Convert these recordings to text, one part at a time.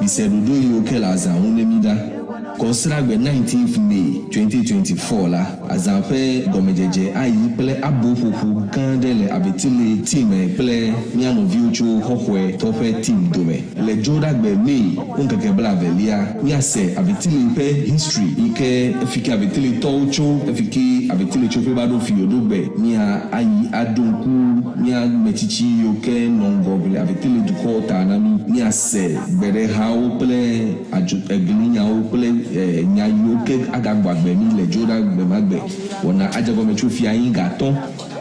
Mise ɖoɖo yiwo ke le azã ŋu ne mí ɖa. Kɔ sragbe nineteenth May twenty twenty four la, azã ƒe gɔmedzedze ayi kple abo ƒoƒo gã aɖe le Abetile Tea me kple mía nɔviwo tso Xɔxɔe tɔ ƒe Team dome. Le Dzoɖagbe May ƒe ŋkeke blaevelia, míase Abetile ƒe history yi ke efi ke Abetile tɔwo tso, efi ke Abetile tso ƒe va ɖo fi yewoɖo gbe mía. Ayi aɖo ŋku mía metsitsi yiwo ke nɔ ŋgɔ ʋli aʋetelodukɔwo ta na mí. Míase gbeɖehawo kple adzo eglinyãwo kple nya yiwo ke agagbɔ agbe mí le Dzoɖa gbemagbe wɔna adze gɔme tso Fia Inga tɔ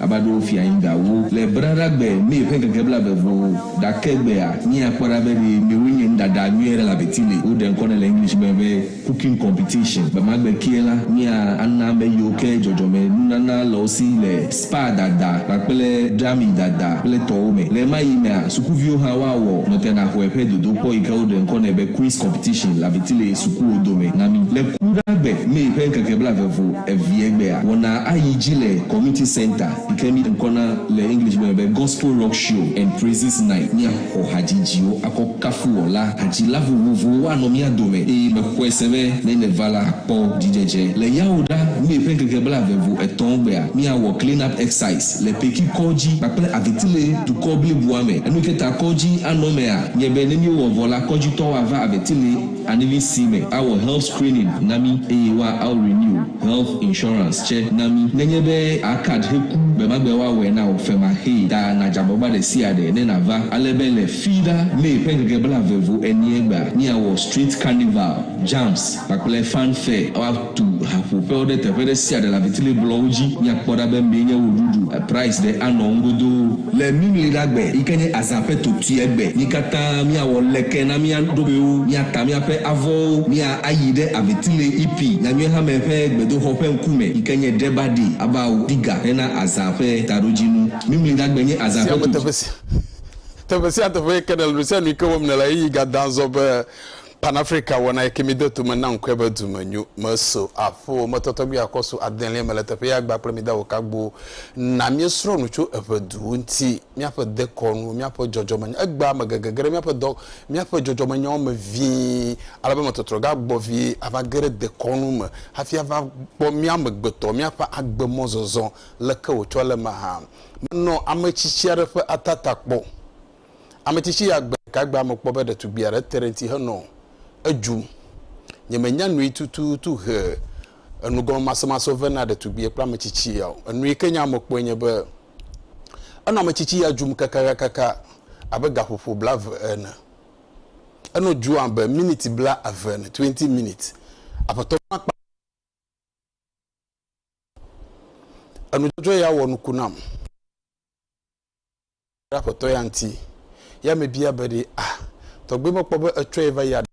ava ɖo Fia Inga wo le Breɖagbe May ƒe ŋkeke blaeve vɔ o. Gake egbea, míakpɔ ɖa be ɖe mewòe nye nuɖaɖa nyui aɖe le aʋetile, woɖe ŋkɔ nɛ le English me be, Cooking Competition. Gbemagbe kie la, mía ana ame yiwo ke dzɔdzɔme nunana le wo si le spa dada kpakple drami dada kple tɔwo me. Ɣemaɣi mea, sukuviwo hã woa wɔ nɔtenaxɔe ƒe dodokpɔ yi ke wo ɖe ŋkɔ nɛ be Quiz Competition la viti le sukuwo dome na mí. Le kuɖagbe, May ƒe ŋkeke blavevo evie gbea, wɔna ayi dzi le Community Centre yi ke mí ŋkɔ na le English gblɔe be Gospel Rock Show and Praises Night. Mía xɔ hadzidziwo akɔ. Kafuwɔla hadzila vovovowo anɔ mía dome eye mexɔe se be ne nèva la àkpɔ dzidzedze. Le Yawoɖa, May ƒe ŋkeke blaeve vo etɔ̃ gbea, míawɔ Clean Up Excise le Peki Kɔdzi kpakple Avitile dukɔ bliboa me. Enuyiketa kɔdzi anɔ emea nye be ne míewɔ vɔ la, kɔdzitɔwo ava Avitile. Anyigli si me awɔ health screening na mi eye wa aw renew health insurance tsɛ na mi. Nenye be a card he ku gbemagbe wa wɔe na wò femaxee ta na dza gbagba ɖe sia ɖe ne na va. Ale be le fii ɖa May ƒe ŋkeke blave vo enie gbea, mi a wɔ street carnival, jams kpakple fan fair. Tu haƒoƒewo ɖe teƒe ɖe sia ɖe le avitriblɔwo dzi. Míakpɔ ɖa be mee nye wò ɖuɖu. Price ɖe anɔ ŋgodowo. Le Mimliɖagbe, yi ke nye azã ƒe totoegbe, mí katã míawɔ leke na mía ɖokuiwo, míata míaƒe avɔwo, mía ayi ɖe avitile Ippii Nyanyuihame ƒe gbedoxɔ ƒe ŋkume, yi ke nye Deba Dee, ava wò Iga hena azã ƒe taɖodzinu. Mimliɖagbe nye azã ƒe totoegbe. Teƒe sia teƒe yi ke nèle, nusianu yi ke wɔm nèle, eye yiga da zɔ be Pan Afrika wɔna yi ke mi de tome na ŋkɔe be dume nyo me so aƒewo me tɔtɔgbi akɔ so adelia me le teƒe ya gba kple mi da woka gbo na mi srɔ nu tso eƒe duwo ŋti miaƒe dekɔnuwo miaƒe dzɔdzɔme nya egbea me gege geɖe miaƒe dɔ miaƒe dzɔdzɔme nyawo me vii ale be me tɔtrɔ ga gbɔ vie ava geɖe dekɔnu me hafi ava kpɔ mia me gbetɔ miaƒe agbe mɔ zɔzɔ leke wotsɔ le me ha menɔ ame tsitsi aɖe ƒe atata kpɔ Ame tsitsi ya gbe ka gbea mekpɔ be ɖetugbui aɖe te ɖe ŋuti henɔ edzum. Nyemenya nui tututu he enugɔmemasemasewo vɛ na ɖetugbui kple ame tsitsi ya o. Enu yi ke nye ame kpɔe nye be enɔ ame tsitsi ya dzum kakakaka abe gaƒoƒo blaeve ene. Enɔ dzum abe miniti blaeve ene, twenty minutes. Aƒetɔ ma kpa enudzɔdzɔ ya wɔ nuku nam. Ɖe aƒetɔ ya ŋti. Ya mebia be ɖe a tɔgbe mekpɔ be etsɔe va yi aɖe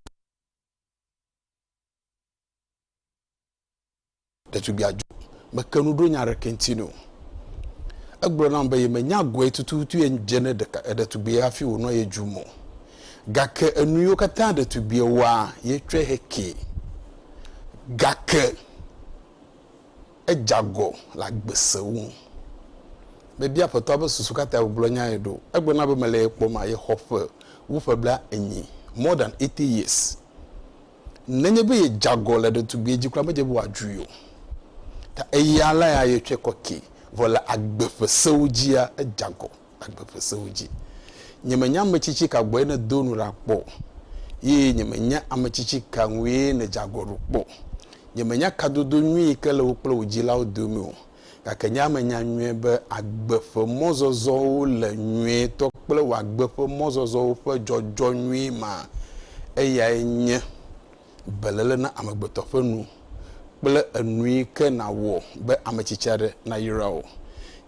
ɖetugbia dzo. Meke nu ɖo nya aɖeke ŋti nɛ o. Egblɔ nam be yemenya agɔe tututu ye dze ne ɖeka ɖetugbie hafi wonɔ ye dzum o. Gake enuyiwo katã ɖetugbie wɔa ye tsɔe he kee. Gake. Edze agɔ le agbe se ŋu. Mebia Aƒetɔa be susu ka tae wògblɔ nyae ɖo. Egblɔ nam be mele ye kpɔm a, yexɔ ƒe wu ƒe bla enyi, more than eighty years. Nenye be yedze agɔ le ɖetugbie dzi kura medze be wòadzui o. Ta eya alea yetsɔe kɔ kee. Vɔ le agbe ƒe sewo dzia, edze agɔ. agbe ƒe sewo dzi. Nyemenya ame tsitsi ka gbɔe nèdo nu ɖa kpɔ o, eye nyemenya ame tsitsi ka ŋue nèdze agɔ ɖo kpɔ o. Nyemenya kadodo nyui yi ke le wò kple wò dzilawo dome o, gake nye ame nya nyuie be agbe ƒe mɔzɔzɔwo le nyuietɔ kple wò agbe ƒe mɔzɔzɔwo ƒe dzɔdzɔ nyui ma. Eyae nye. beléle na amegbetɔ ƒe nu kple enui ke nàwɔ be ame tsitsi aɖe nayra o.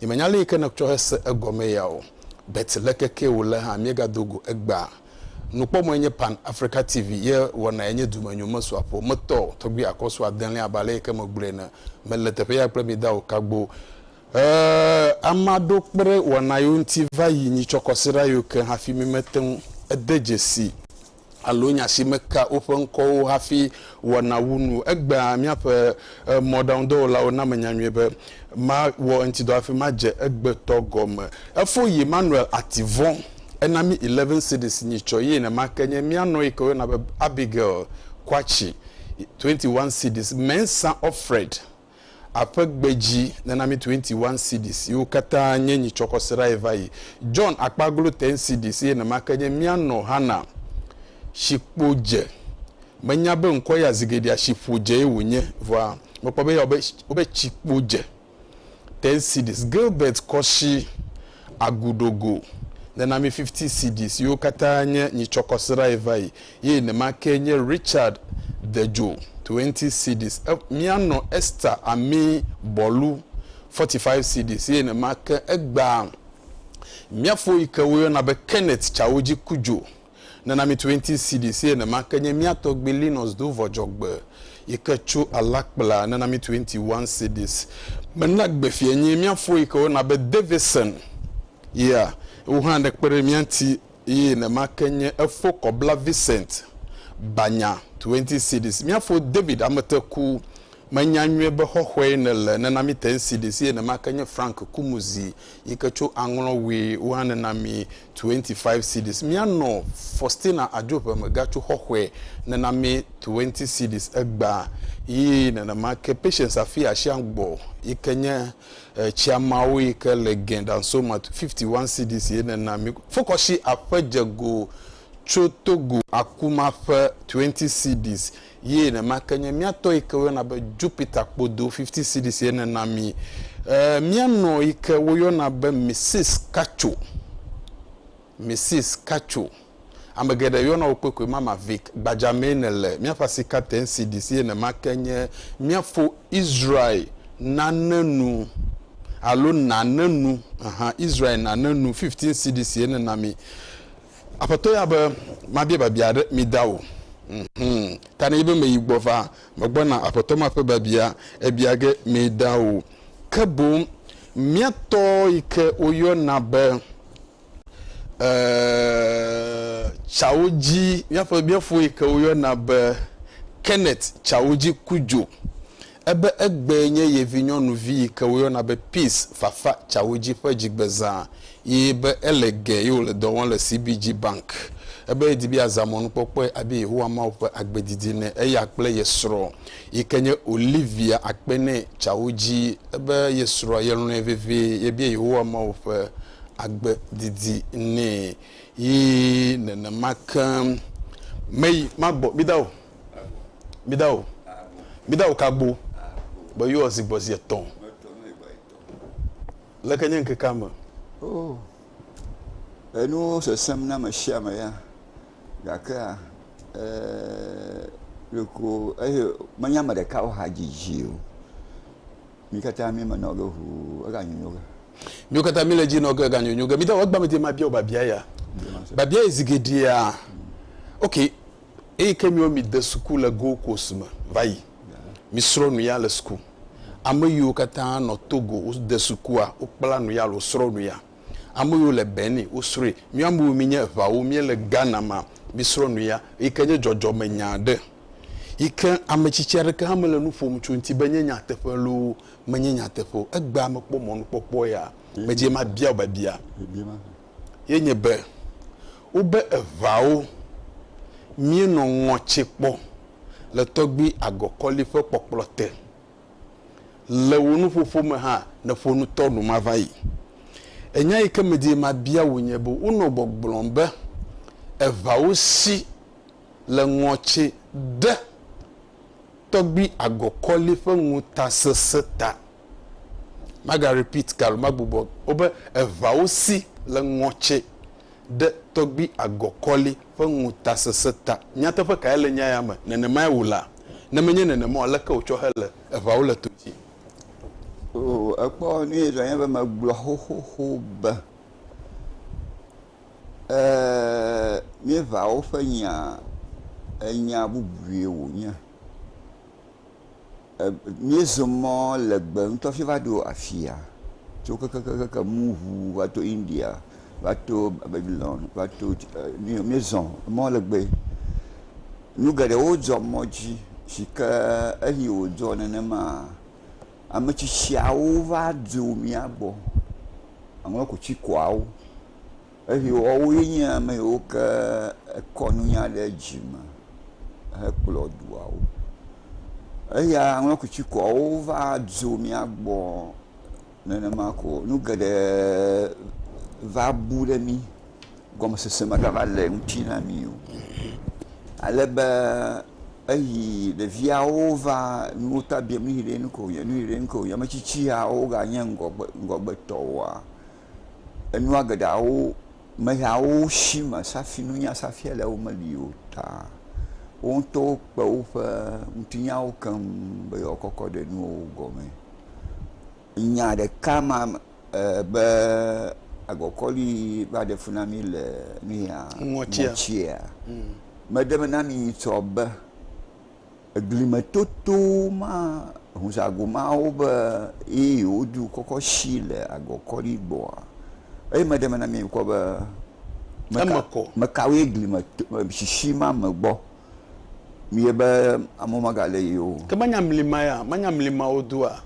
Nyemenya ale yi ke nètsɔ hese egɔmee ya o, but leke kee wòle hã, míegado go egbea. Nukpɔmɔ̃e nye Pan Africa TV ye wɔnae nye Dumenyo me srɔ̃a ƒometɔ tɔgbui akɔsu adelẽa abe ale yi ke megblɔe ene. Mele teƒe ya kple mi da o kagbo. Eeee ame aɖewo kpe ɖe wɔna yewo ŋuti va yi nyi tsɔ kɔsiɖa yewo ke hafi mi mete ŋu ede dzesi alo nya si meka woƒe ŋkɔwo hafi wɔna wu nu. Egbea míaƒe mɔ̃ɖaŋudɔwɔlawo na menya nyuie be mawɔ eŋutidɔ hafi madze egbetɔ gɔme. Efoyi Manuel Ativõ, Ena mí eleven cedis nyi tsɔ ye nenema ke nye mía nɔ yi ke woyɔna be Abigail Kwatsi, twenty one cedis, Mensah Offred, aƒe gbe dzi nana mi 21 cedis, yiwo katã nye nyitsɔkɔ srae va yi. John akpa glo 10 cedis, eye nenema ke nye mía nɔ Hannah si kpo dze. Menya be ŋkɔ ya zi geɖea si ƒo dzee wònye, vɔa mekpɔ be eya wobe tsi kpo dze. 10 cedis. Gilbert kɔ si agu ɖo go nana mi 50 cedis, yiwo katã nye nyitsɔkɔ srae va yi. Ye ne ma ke nye Richard dedzo 20 cedis mia nɔ Esther ami bɔlu 45 cedis ye ne ma ke egba mia fo yi ke wo yɔna be Kenneth cawo dzi ku dzo nana mi 20 cedis ye ne ma ke nye mia tɔgbi Linus do vɔ dzɔgbe yi ke tso alakpla nana mi 21 cedis me na gbe fie nye mia fo yi ke wo yɔna be Davison ya wo hã ne kpe ɖe mia ŋti. Eye nema ke nye efo kɔbla Vincent Banya Tuenti Cedis. Mía fo David Ameteku menya nyuie be xɔxɔe nele nena mi Ten Cedis eye nema ke nye Frank Kumuzi yike tso Aŋlɔ Wi wo hã nena mi Tuenti Five Cedis. Mía nɔ Faustina Adjope me ga tso xɔxɔe nena mi Tuenti Cedis egbea. Eye nenema ke Patience Afi Ashiangbɔ yike nye eh tsia mawo yi ke le gɛ ɖa so ma 51 cedis ye ne na mi fokɔshi aƒe dze go tso togo aku ma ƒe 20 cedis ye ne ma ke nye mia tɔ yi ke wo yɔna be jupiter kpodo 50 cedis ye ne na mi eh mia nɔ yi ke wo yɔna be mrs kacho mrs kacho. Ame geɖe yɔna wò kpekpem ama Vic. Gbadza mee nèle. Míaƒe asi ka te ŋsi ɖi si eye nema ke nye mía fo Israel nane nu alo nane nu. Aha, Israel nane nu. 15 ŋsi ɖi sie nena mí. Aƒetɔ ya be, Mabia biabia ɖe mi da o. Mhmm. Ta nɛ be meyi gbɔ va. Megbɔna Aƒetɔ ma ƒe biabia ebia ge mi da o. Ke boŋ mía tɔ yi ke woyɔna be. Tsawodzi, míaƒe mía fo yi ke woyɔna be Kenneth Tsawodzi Cudjoe. Ebe egbee nye ye vinyɔnuvi yi ke woyɔna be Peace Fafa Tsawodzi ƒe dzigbezã ye be ele ge ye wòle dɔ wɔm le CBG Bank. Ebe yedi be yeazã mɔnukpɔkpɔe abe Yehowa Mawu ƒe agbe didi ene. Eya kple ye srɔ̃ yi ke nye Olivia Akpene Tsawodzi. Ebe ye srɔ̃a, yelɔ̃e vevie. Yebia Yehowa Mawu ƒe agbe didi nɛ yi nenema ke meyi magbɔ mida o mida o mida o kagbo be yɔ zigbɔ zi etɔn leke nye ŋkekea me o oh. enu sesem na me sia me ya gake a eh, loko eye menya me ɖeka o ha dzidzi o Mi katã mi me nɔ ge ʋuu ega nyonyo ge. Miwo katã mi le dzi nɔ ge ega nyonyo ge. Mi da wɔ agba me di ma bia wò babia ya. Babia yi zi geɖea. Ok, eyi ke miwo mi de suku le Gold Coast me va yi. Mi srɔ nu ya le suku. Ame yiwo katã nɔ Togo wo de sukua wo kpla nu ya alo srɔ nu ya. Ame yiwo le Benin wosrɔ̃e. Mía ame yiwo mienye eŋawo míele Ghana ma mísrɔ̃ nu ya yi ke nye dzɔdzɔmenya aɖe yi ke ame tsitsi aɖeke hã mele nu ƒom tso eŋuti be enye nyateƒe loo menye nyateƒe o. Egbea mekpɔ mɔnukpɔkpɔ ya medie mabia wò biabia ye nye be, wobe eŋawo míenɔ ŋɔtsi kpɔ le tɔgbui agɔkɔli ƒe kpɔkplɔ te. Le wò nuƒoƒo me hã, nèƒo nu tɔ nu mava yi. Enya yi ke medi mabia wò nye be wonɔ gbɔgblɔm be eʋawo si le ŋɔtsi ɖe tɔgbi agɔkɔli ƒe ŋutasesẽ ta. Maga repeat ke alo magbugbɔ o be eʋawo si le ŋɔtsi ɖe tɔgbi agɔkɔli. ƒe ŋutasesẽ ta. Nyateƒe kae le nya ya me? Nenemae wòla? Ne menye nenema o, aleke wòtsɔ hele eʋawo le to dzi? Oo, èkpɔ nu ye zɔ nye be megblɔ xoxoxo be, Ee, míeʋawo ƒe nyaa, enya bubue wònye. Míezɔ mɔ le gbe ŋutɔ fi va ɖo afia, tso kekekeke mú ŋu va to India, va to Babilon, va to míezɔ mɔ le gbe. Nu geɖewo dzɔ mɔ dzi si ke eyi wòdzɔ nenema ame tsitsiawo va do mía gbɔ, aŋlɔkutsi kɔawo Exiwo woe nye ame yiwo ke ekɔ nunya ɖe dzime hekplɔ duawo. Eya ŋlɔkutsikɔwo va dzo mía gbɔ nenema ko nu geɖe va bu ɖe mí. Gɔmesese megava le eŋuti na mí o. Ale be eyi ɖeviawo va nuwo ta biam nuyi ɖee, nu kae wònye, nuyi ɖee, nu kae wònye. Ame tsitsiawo ganye ŋgɔgbe, ŋgɔgbetɔwoa. enua geɖeawo me ya wo si me safi nunya safi le wo meli o ta wo ŋutɔwo kpe woƒe ŋutinyawo keŋ be yewoakɔkɔ ɖe nuwo gɔme. Nya ɖeka ma e be agɔkɔli va ɖe fu na mi le nuya ŋɔtia. Meɖe me na mi ŋutɔ be. Eglimetoto ma, hũzãgo ma wo be ye yewo du kɔkɔ si le agɔ kɔ ɖi gbɔa, eye meɖe me na mi kɔ be, Eme kɔ. mekawoe glime sisi ma me gbɔ ye be amewo magalé yi o. Ke menya mlima ya? Menya mlima wo dua?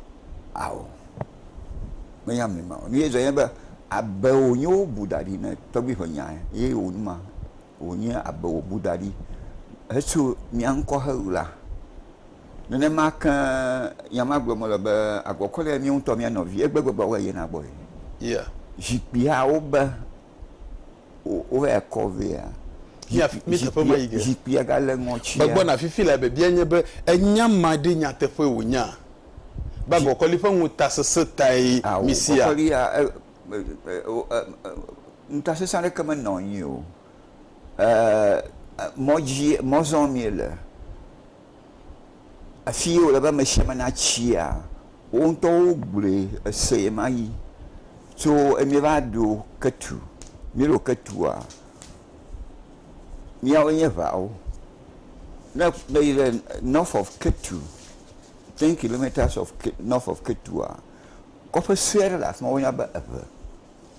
Ao, menya mlima wo. Nu ye zɔ ye be, abe wònye wo bu da ɖi ne tɔgbui ƒe nya ye wò nu ma. wònye abe wòbu da ɖi hetso mía ŋkɔ heɣla. Nenema ke nya ma gblɔm mele be agɔ kɔ ɖe míawo ŋutɔ mía nɔvi egbe gbegbeawo va yina gbɔ ye. Yeah. Zikpuia wobe wovae kɔ vea? Zikpuia gale ŋɔtsia. Megbɔna fifi la biabia nye be enya ma ɖe nyateƒe wònya be agɔkɔli ƒe ŋutasesẽ tae misia? Ŋutasesẽ aɖeke menɔ anyi o. Ee, mɔ dzi, mɔ zɔm míele. Afi ye wòle be ame sia ame natsia, wo ŋutɔwo wogblɔe, ese ye ma yi. Tso eme va ɖo ketu. Míeɖo ketua, míawoe nye ŋɛawo. Ne ekpɔ be yele north of ketu, ten kilometres of ke, north of ketua, kɔƒe sue aɖe le afi ma woyɔna be eŋɛ.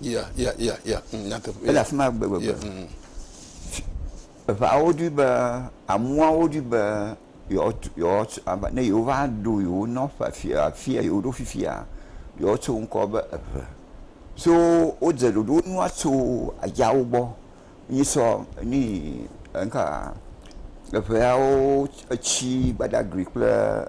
Yeah, yeah, yeah, yeah. Mm, nyateƒe. Ele Yeah. afi ma gbegbegbe. Yeah, mm, Eʋawo ɖi be amuawo ɖi be yewoatu yewoatu ava ne yewova ɖo yewo nɔƒe afia afia yewoɖo fifia yewoatso ŋkɔ be eʋe. So wodze ɖoɖo nua tso ajawo gbɔ. Nyi sɔ ni enka eʋeawo etsi gbadagri kple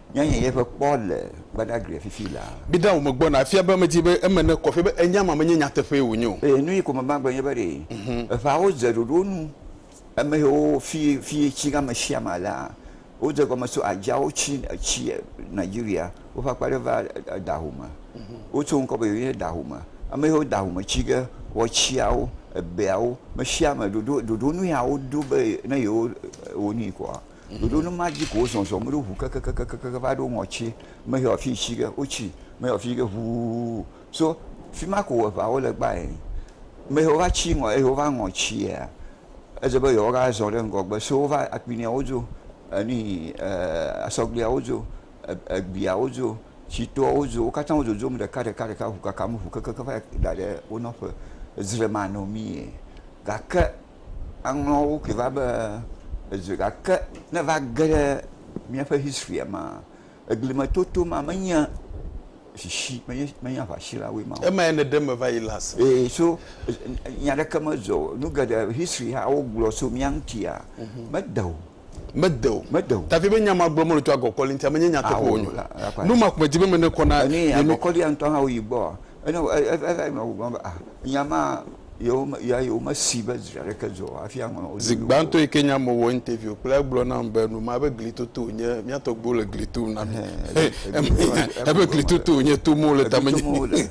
Nye nye ye ƒe kpɔ le gbadagria fifi la. Mida wò me gbɔ na fia be medi be eme ne kɔ fia be enya ma menye nyateƒee wò nye o. Eye nuyi ko mema gbe nye be ɖe eƒeawo dze ɖoɖo nu. Amehewo fi fi tsi ame sia ame alea wo dze gɔme so adjawo tsi tsi Nigeria woƒe akpa ɖe va Dahome. Wo tso ŋkɔ be yewo nye Dahome. Amehewo Dahome tsi ge wɔ tsiawo ebeawo me sia me ɖoɖo ɖoɖo nu ya wo ɖo be ne yewo wo nui kɔa. Ɖoɖo nu ma dzi ko wo zɔzɔm ɖo ʋu kekekekeke va ɖo ŋɔtsi me yɔ fi tsi ge wo tsi me yɔ fi ge ʋuu so fi ma ko eʋa wo le gba yen me yi wo va tsi ŋɔ eyi wo va ŋɔ tsi ya edze be yɔ wo ga zɔ ɖe ŋgɔ gbe so wo va akpi nɛ wo dzo enu yi asɔgbia wo dzo egbia wo dzo tsi toa wo dzo wo katã wo dzodzom ɖeka ɖeka ɖeka ʋu kakam ʋu kekeke va yi da ɖe wo nɔƒe ezre ma no mi ye gake Aŋlɔ wo ke va be edze gake ne eva ge ɖe míaƒe historya mea, eglimeto to ma menye sisi menye menye aŋasilawoe ma o. Emae nèɖe eme va yi le asi me. Ee, so nya aɖeke medzɔ o. Nu geɖe histori hã wogblɔ so mía ŋutia, mede o. Mede o. Mede o. Tafi be nya ma gblɔm mele tso agɔkɔli ŋuti menye nyateƒe o nyo. Nu ma ko medi be mene kɔ na. Enye agɔkɔlia ŋutɔ hã woyi gbɔ. Ene eva yi nɔ gbɔgblɔm be ah nya ma ya yewo me si be dzi aɖeke dze o hafi aŋlɔ wo. Zi gbãtɔ yi ke nye ame wɔ interview kple egblɔ nam be nu ma be gli toto wonye. Mía tɔgbuiwo le gli tum na mi. Ebe gli toto wonye tum wole tame nye. Gli tum wole.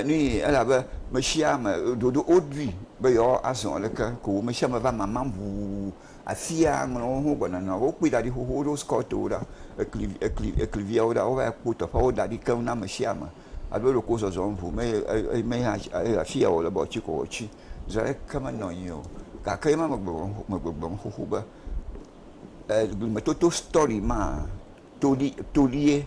Nui elabe mesiame ɖoɖo wodui be yewoa zɔ ɖeke ko me siame va mamam ʋuu. Afia ŋlɔ wo ho gbɔna na wo. Wokpui da ɖi xoxo, woɖo scoutwo ɖa, ekli, ekli, ekliviawo ɖa. Wova kpo teƒeawo da ɖi keŋ na ame sia ame. Aɖo eɖokuiwo zɔzɔm ʋuu me eye me hã eye afia wòle be wòatsi ko wòatsi. Zi aɖeke menɔ anyi o. Gake ema megblɔ megblɔ xoxo be, e, glimetoto story maa, Toɖi, toɖie.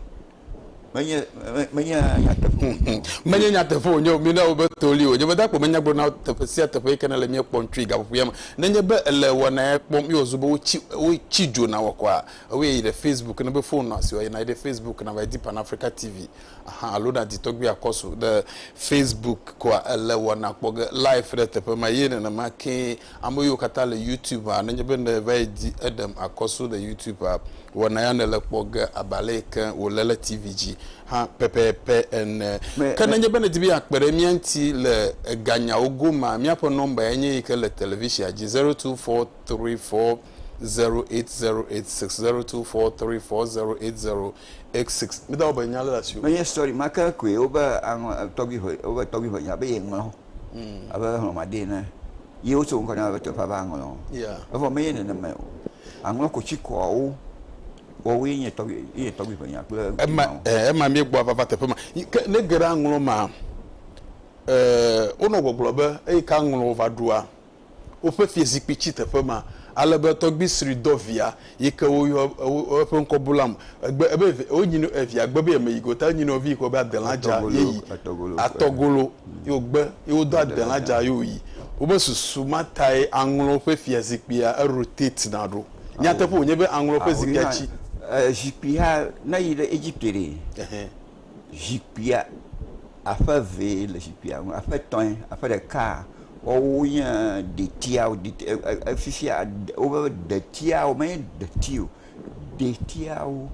Menye, menye nyateƒe wònye o. Menye nyateƒe wònye o. Mina wòbe toɖi wònye. Meda akpe menya gblɔ na wò teƒe sia teƒe yike nèle mía kpɔm tsoe gaƒoƒoea me. Nenye be èle wɔna ya kpɔm ye wòzu be wotsi, wotsi dzo na wò kɔa, ewɔe yi ɖe Facebook. Ne be fon nɔ asiwòa, yi na yi ɖe Facebook nava yi di Pan Africa TV. Ahan, alo na di tɔgbui Akɔsu ɖe Facebook kɔa èle wɔna kpɔ ge live ɖe teƒe ma. Ye nenema kee Ame yiwo katã le YouTube hã, nenye be nèva yi di eɖem akɔsu le YouTube hã, wɔna ya nèle kpɔ ge abe ale yi ke wòle le TV dzi hã pɛpɛpɛ ene. Ke nenye be nèdi be yeakpe ɖe mía ŋuti le eganyawo gomea, míaƒe nɔmba yae nye eyi ke le televisia dzi, zero two four three four zero eight zero eight six, zero two four three four zero eight zero eight six. Mídawɔ be nya ale le asiwò. Menye story ma ke koe wobe aŋɔ tɔgbi ƒe wobe tɔgbi ƒe nya be yeŋlɔ. abe hlɔ̃ maɖi ene ye wotsɔ ŋkɔ na be teƒe ava ŋlɔ o. Evɔ menye nenema o. Aŋlɔ kotsikɔawo wɔwoe nye tɔgbui ƒe nya kple ŋkunyɔwo. Ema míegbɔ ava va teƒe ma. Ke ne ge ɖe aŋlɔ mea, wonɔ gbɔgblɔ be, Eyi ka aŋlɔwo va ɖoa? Woƒe fiezikpui tsi teƒe ma, ale be tɔgbui sri dɔ via yi ke woyɔ eƒe ŋkɔ Bulaam egbe ebe wonyi nu evia egbe be yemeyi gota enyi nu evi yi kɔ be adelã dza ye yi atɔ golo ye wogbe ye wodo adelã dza ye woyi wobe susu ma tae aŋlɔ ƒe fiazikpuia erotate na ɖo nyateƒe wonye be aŋlɔ ƒe zikpuia tsi. Zikpui ha ne yi ɖe Egypt ɖee. Zikpuia, aƒe evee le zikpuia me. Aƒe etɔ̃e, aƒe ɖekaa, woawo nye ɖetia, fifia woƒe ɖetia menye ɖeti o, ɖetiawo,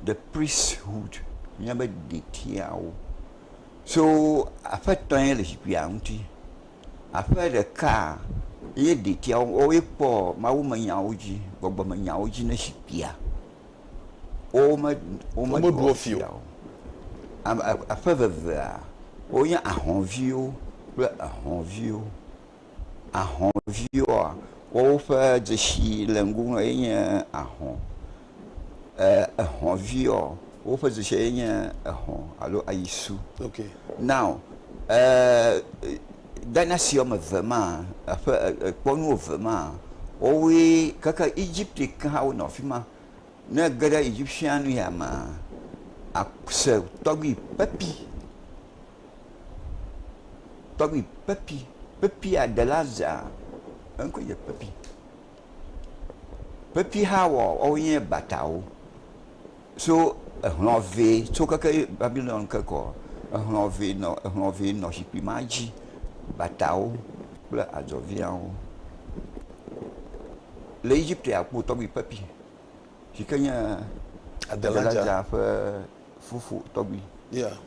the priesthood, míawo be ɖetiawo. So aƒe etɔ̃e le zikpuia ŋuti. Aƒe ɖekaa ye ɖetiawo, woawoe kpɔ mawumenyawo dzi, gbɔgbɔmenyawo dzi na zikpuia. Womeɖua fi o. Aƒe vevea, wonye ahɔ̃viwo kple ehɔ̃viwo. Ahɔ̃viwoa, woawo ƒe dzesi le ŋgɔ na wo ye nye ahɔ̃. Ehɔ̃viwoa, woawo ƒe dzesi ye nye ehɔ̃ alo ayisu. Now e… Dynasty woame eve ma ƒe kpɔnu eve ma wowoe keke Egypte ke hã wonɔ afi ma. Ne ege ɖe Egyptian nu ya mea, àse tɔgbi pepi, tɔgbi pepi, pepi ya ɖela zã, eŋkɔe nye pepi. Pepi hã wɔ woawo nye batawo. So exlɔ̃ vɛ tso keke Babilon ke kɔ, exlɔ̃ vɛ nɔ, exlɔ̃ vɛ nɔ zikpui ma dzi, batawo kple adzɔviawo. Le Egipte akpɔ tɔgbui Pepi si ke nye Adelaja ƒe fofo tɔgbui. Yeah.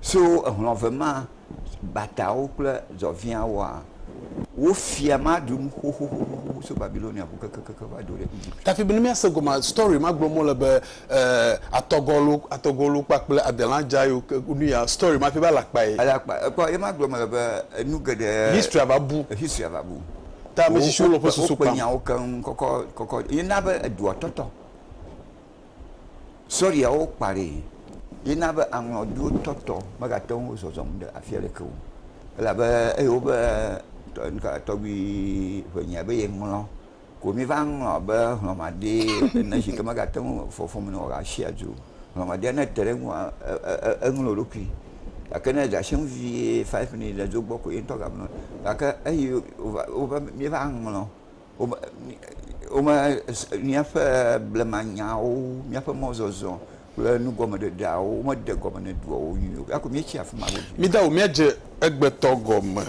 so ehlɔ̃ve ma batawo kple zɔvia wɔa, wofia maɖum xoxoxoxo so Babilonia ŋu kekekekeŋ va do ɖe Egypt. Tafi be ne miase gɔme story ma gblɔm wole be atɔgɔlo atɔgɔlo kpakple Adelã Jayo nuya story ma ƒe be alakpae. Alakpa ekpɔ ye ma gblɔm mele be enu geɖe history ava bu history ava bu ta ame tsitsiwo le woƒe susu kpam wokpe nyawo keŋ kɔkɔ kɔkɔ ye na be edua tɔtɔ. Sɔriawo kpaɖee ye na be aŋlɔduwo tɔtɔ megate ŋu zɔzɔm ɖe afi aɖeke o, elabe eye wobe nuka tɔgbi ʋenyae be yeŋlɔ ko mi va ŋlɔ abe hlɔ̃madee ene si ke megate ŋu fɔfɔm ne wòaga asi adzro o. Hlɔ̃madea ne te ɖe eŋu eŋlɔ eɖokui gake ne edze asi eŋu vie five minutes ne edzo gbɔ ko ye ŋutɔ ga ŋlɔ gake eyi wova míeva ŋlɔ. Míaƒe blemanyawo, míaƒe mɔzɔzɔ kple nugɔmeɖeɖeawo meɖe gɔme na duawo nyuie o. Eya ko míetsi afi ma godoo. Mída o, míadze egbetɔ gɔme.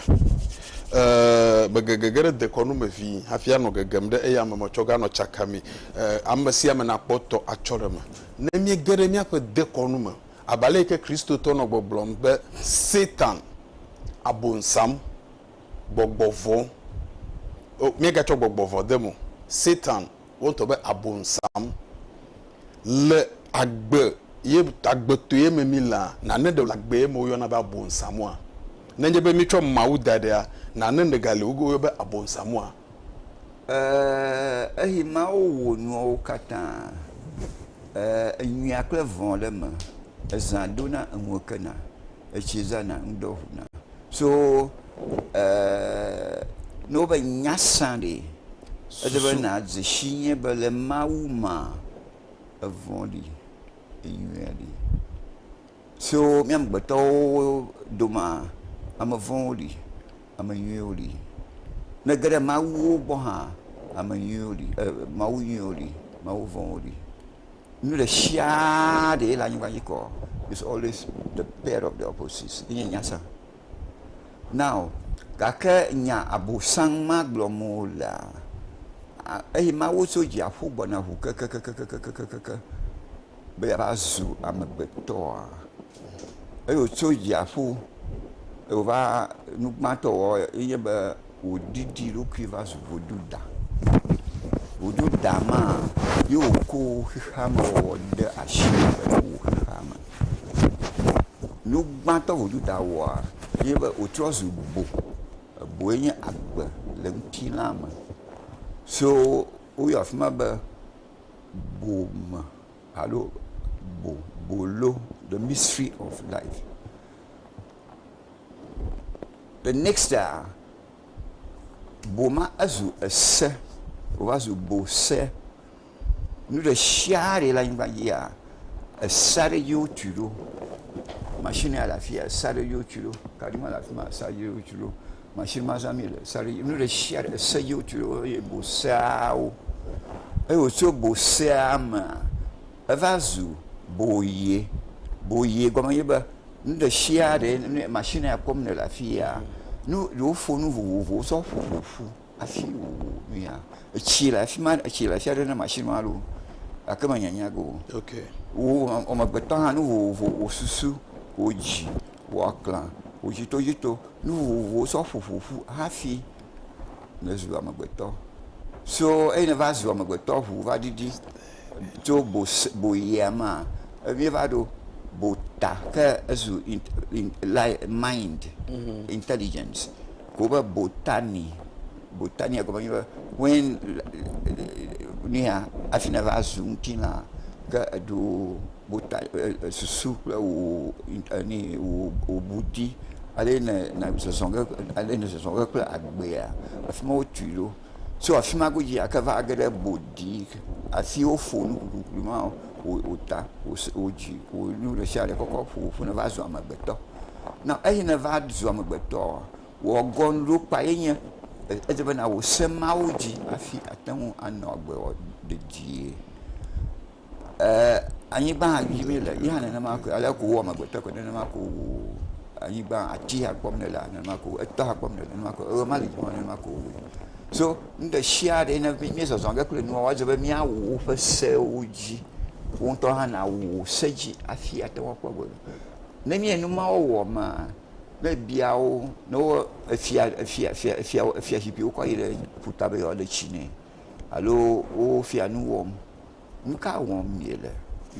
Ẽ, megege ge ɖe dekɔnu me ʋĩ hafi anɔ gegem ɖe eya me me tsɔ ge anɔ tsakamee. Ẽ, ame sia ame nakpɔ etɔ atsɔ ɖe eme. Ne míege ɖe míaƒe dekɔnu me abe ale yi ke Kristotɔ nɔ gbɔgblɔm be Satan Abosam gbɔgbɔ vɔ̃, o, míegatsɔ gbɔgbɔ vɔ̃ de mo, Satan woŋtɔ be Abosam. Le agbe ye, agbetɔe me mí lea, nane ɖe le agbee me woyɔna be Abosamua? Nenye be míetsɔ Mawu da ɖea, nane ɖe gali woyɔ be Abosamua? E, eyi Mawu wɔ nuawo katã. E, enyuia kple vɔ̃ ɖe me. Ezã ɖo na eŋue kena. etsi zãna nu ɖewo ƒona so ne wo be nya sã ɖee ele be na dze si nɛ be le mawu me evɔ li eyi ʋea li so mía amegbetɔwo dome ame vɔwo li ame nyuiwo li ne ge ɖe mawuwo gbɔ hã ame nyuiwo li e mawu nyuiwo li mawu vɔwo li. Nu ɖe sia ɖee le anyigba dzi kɔ is always the pair of the opposites enye nya sã. Now gake nya abosaŋ ma gblɔm wo lea, eye ma wo tso dziaƒo gbɔna ŋu kekekekekekekeke be yeava zu amegbetɔa, eye wotso dziaƒo eye wova nugbãtɔ wɔ enye be. Wòɖiɖi eɖokui va zu voduda. Voduda maa, ye wòko xexeamewɔwɔ ɖe ashi be wòwɔ xexeame. Nu gbãtɔ voduda wɔa, enye be wòtrɔ zu bo. Eboe nye agbe le ŋutilã me. So woyɔ afi ma be bome alo bo, bolo, the mystery of life. The next year, bo ma zu ese wòva zu bo se. Nu ɖe sia ɖe le anyigba dzia, ese aɖe dzi wotui ɖo. Mashini ya le afi ya, ese aɖe dzi wotui ɖo. Kaɖi ma le afi ma, ese aɖe dzi wotui ɖo. Mashini ma zã mele, ese aɖe dzi. Nu ɖe sia ɖe ese dzi wotui ɖo eye bo seawo. Eye wòtso bo sea mea, Eva zu booyie. Booyie gɔme ye be nu ɖe shia ɖe ne machine ya kpɔm nèle afi yia, nu wofo nu vovovowo tsɔ ƒo ƒo ƒu afi wòwò nu ya. Etsi le afi ma, etsi le afi aɖe ne machine ma loo gake menya nya go o. Ok. Wò amegbetɔ hã nu vovovo wò susu, wò dzi, wò aklã, wò dzitodzito, nu vovovowo tsɔ ƒo ƒo ƒu hafi nèzu amegbetɔ. So eyi ne va zu amegbetɔ ŋu va ɖiɖi. Tso bo se bo yia ma evi va ɖo bo ta ke ezu int int lai mind intelligence ko be bo ta ni bo ta nia gɔme nye be when nuya afi ne va zu ŋutilã ke eɖo bo ta susu kple wo eni wo wo budi ale yi ne na zɔzɔ ge ale yi ne zɔzɔ ge kple agbea afi ma wotui ɖo. Tso afi ma godzi ake va ge ɖe Bodi hafi woƒo nu kukuku ma wò ta, wò se, wò dzi, wò nu ɖe sia ɖe kɔkɔ ƒo wò ƒu nèva zu amegbetɔ. Na eyi nèva zu amegbetɔa, wò agɔnuɖokpea ye nye edze bena wò se Mawu dzi hafi àte ŋu anɔ agbe dedie. anyigba hã dzi mele o, ye hã nenema ke ale ke wowɔ amegbetɔe ko nenema ke wowɔ anyigba, ati hã kpɔm nèle nenema ke wowɔ, etɔ hã kpɔm nèle nenema ke wowɔ, ʋe ma li dzi mɔ nenema ke wowɔe. So nu ɖe sia ɖe yi ne be míezɔzɔ ge kple nua ewɔ be míawɔ woƒe sewo dzi. Wò ŋutɔ hã nàwɔ wò se dzi hafi ate ŋu akpɔ agbe. Ne míele nu mawo wɔm maa, ne èbia wo ne wo efia efia efia efia efiazikpuiwo kɔ yi ɖe ƒuta be yewoaɖe tsi nɛ alo wo fianu wɔm. Nu ka wɔm miele?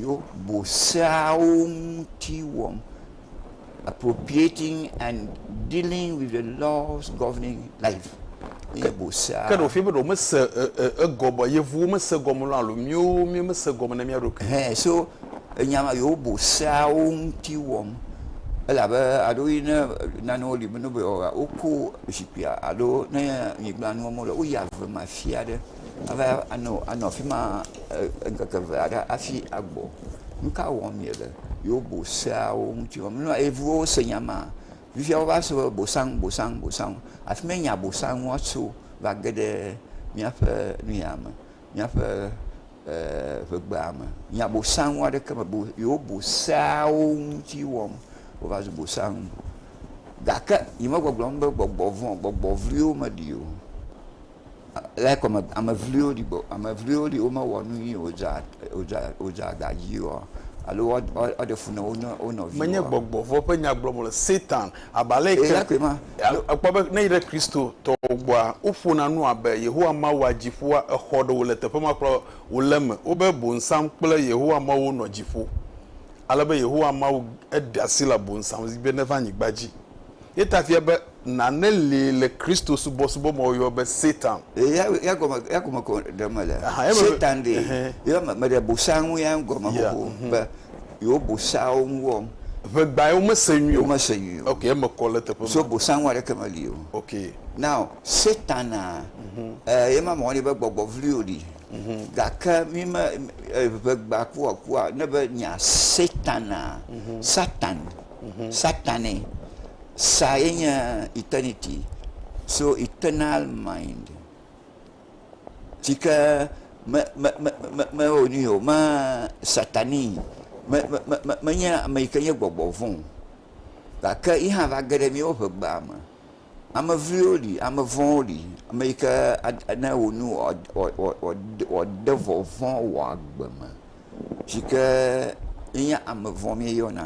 Yo bu seawo ŋuti wɔm, appropriating and dealing with the laws governing life. Ye bu sea. Ke ɖewofiɛ be ɖewo mese egɔme, yevuwo mese egɔme loo alo miwo miomese egɔme na miaɖokui. Hɛ, so enya ma yo bu seawo ŋuti wɔm. Elabe aɖo yi ne nanewo li be no be yewoa wa, woko zikpuia alo ne nyigba nuwo mele o, woyi ave me afiaɖe. Ava anɔ anɔ afi ma ŋkeke eve aɖe hafi agbɔ. Nu ka wɔm miele? Yewo bu seawo ŋuti wɔm. Nua yevuwo se nya ma. Fifia wova se be bosaŋu, bosaŋu, bosaŋu. Afi mae nya bosaŋua tso va ge ɖe míaƒe nu ya me, míaƒe e ŋegbea me. Nya bosaŋu aɖeke me bu yewo bu seawo ŋuti wɔm. Wova zu bosaŋu. Gake nyemegbɔgblɔm be gbɔgbɔ vɔ̃, gbɔgbɔ vloewo meɖi o. Le egɔme be ame vloewo li gbɔ, ame vloewo li wome wɔ nu nyuie o, wodze agba dzi o alo woɖe fu ne wo nɔviwo. Menye gbɔgbɔ vɔ̃ ƒe nya gblɔm wole, Satan, abe aleke èkpɔ be ne yi ɖe Kristotɔwo gbɔa, woƒona nu abe Yehowa Mawua dziƒoa, exɔ ɖe wòle teƒe ma kple wòle eme, wobe Bonsam kple Yehowa Mawu wonɔ dziƒo, ale be Yehowa Mawu eɖe asi le Bonsam si be neva anyigba dzi. Ye ta fia be nane li le Kristo subɔsubɔ me woyɔ be Satan. Eya ya gɔme ya gɔme ko ɖem mele. Aha, eme be- Satan ɖee. ehɛ. Yɔ me meɖe bosaŋu ya ŋu gɔme Ya, xoxo mhm. be yewo bosawo ŋu wɔm. Ʋegbae womese nyui o. Womese nyui o. Ok, eme kɔ le teƒe So ma. bosaŋu aɖeke meli o. Ok. Now Satana e yema mewɔ nɛ be gbɔgbɔ vliwo ɖi. Gake mi me e ʋegba kua kua ne be nya Satana, Satan, Satane. Sa ye nye eternity so eternal mind si ke me me me me mewɔ nui o me satani me me me me menye ame yi ke nye gbɔgbɔ vɔ̃ o gake ye hã va ge ɖe míwo ʋegbea me. Ame vloewo li, ame vɔ̃wo li, ame yi ke ne wɔ nu wɔ wɔ wɔ wɔ wɔde vɔ vɔ̃ wɔ agbe me si ke ye nye ame vɔ̃ míeyɔna.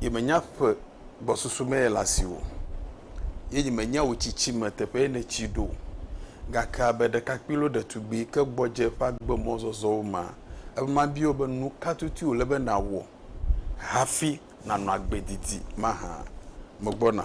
Ye menya ƒe gbɔsusu mee le asi o. Ye nye menya wò tsitsi me teƒee nètsi ɖo o. Gake abe ɖekakpui loo ɖetugbui yi ke gbɔdze ƒe agbemɔzɔzɔwo mea, ebe mabia wò be, Nu ka tutu wòle be nàwɔ hafi nànɔ agbe didi mahã? Megbɔna.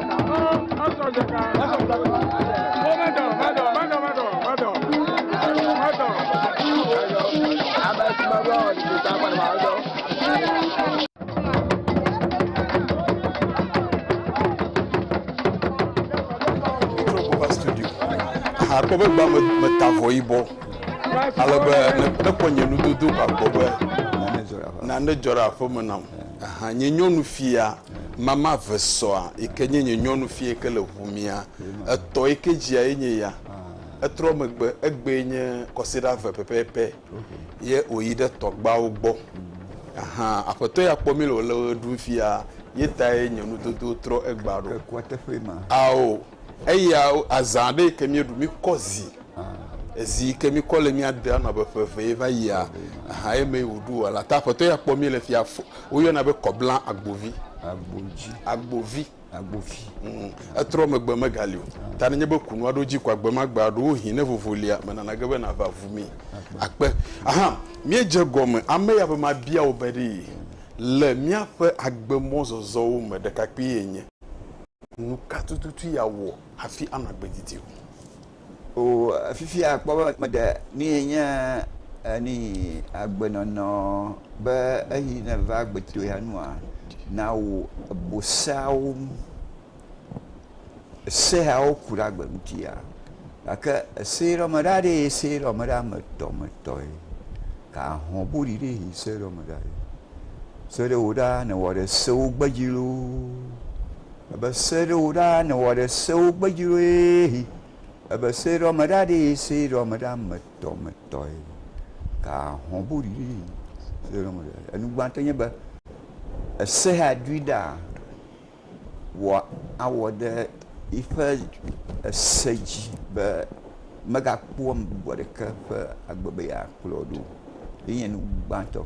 akpɔ be gba meta avɔ yibɔ ale be nekpɔ nye nudodo akpɔ be nane dzɔ ɖe aƒeme nam nye nyɔnu fia Mama ve sɔa yike nye nye nyɔnu fia yike le ʋu mia etɔ yike dzia ye nye ya etrɔ megbe egbee nye kɔsiɖa ve pɛpɛpɛ ye oyi ɖe tɔgbawo gbɔ ahan aƒetɔ ya kpɔ mi le oleɣeɖum fia yetae nye nudodowo trɔ egba ɖo ao Eya azã aɖe yi ke míeɖu, míkɔ zi. Ezi yi ke míkɔ le mía ɖe anɔ abe ƒe eve ye va yia, ahan eye mee wòɖu wɔ la ta Aƒetɔ ya kpɔ mí le fia. Woyɔna be kɔbla agbovi. Agbovi. Agbovi. Agbovi. Mm. Etrɔ megbe megali o. Ta nenye be kunu aɖewo dzi ko agbe ma gbea, ɖewo hin ne vovo lia, menana ge be nava vu mi. Akpe. Ahan, míedze gɔme. Ame ya be mabia wò be ɖee. Le míaƒe agbe mɔzɔzɔwo me, ɖekakpui ye nye. Nu ka tututu yeawɔ hafi anɔ agbe didi o? O, fifia kpɔ be meɖe nue nye eni agbenɔnɔ be eyi ne va agbe didi o ya nua, na wò ebo seawo ŋu, seawo ku ɖe agbe ŋuti ya. Gake eseerɔ me ɖa ɖee, seerɔ me ɖa me tɔ me tɔe. Ka hɔn boli ɖe yi seerɔ me ɖa ye. Se ɖewo ɖa nèwɔ ɖe sewo gbe dzi loo. Ebe se ɖewo ɖa nèwɔ ɖe sewo gbe dzi loo eehi. Ebe se ɖewo me ɖa ɖee, se ɖewo me ɖa metɔ metɔe. Ka hɔn bo ɖi ɖee. Se ɖewo me ɖa. Enu gbãtɔ nye be, ese hea ɖui ɖa. wɔ awɔ ɖe yiƒe ese dzi be megakpɔa ame bubua ɖeke ƒe agbe be yeakplɔ ɖo. Ye nye nu gbãtɔ.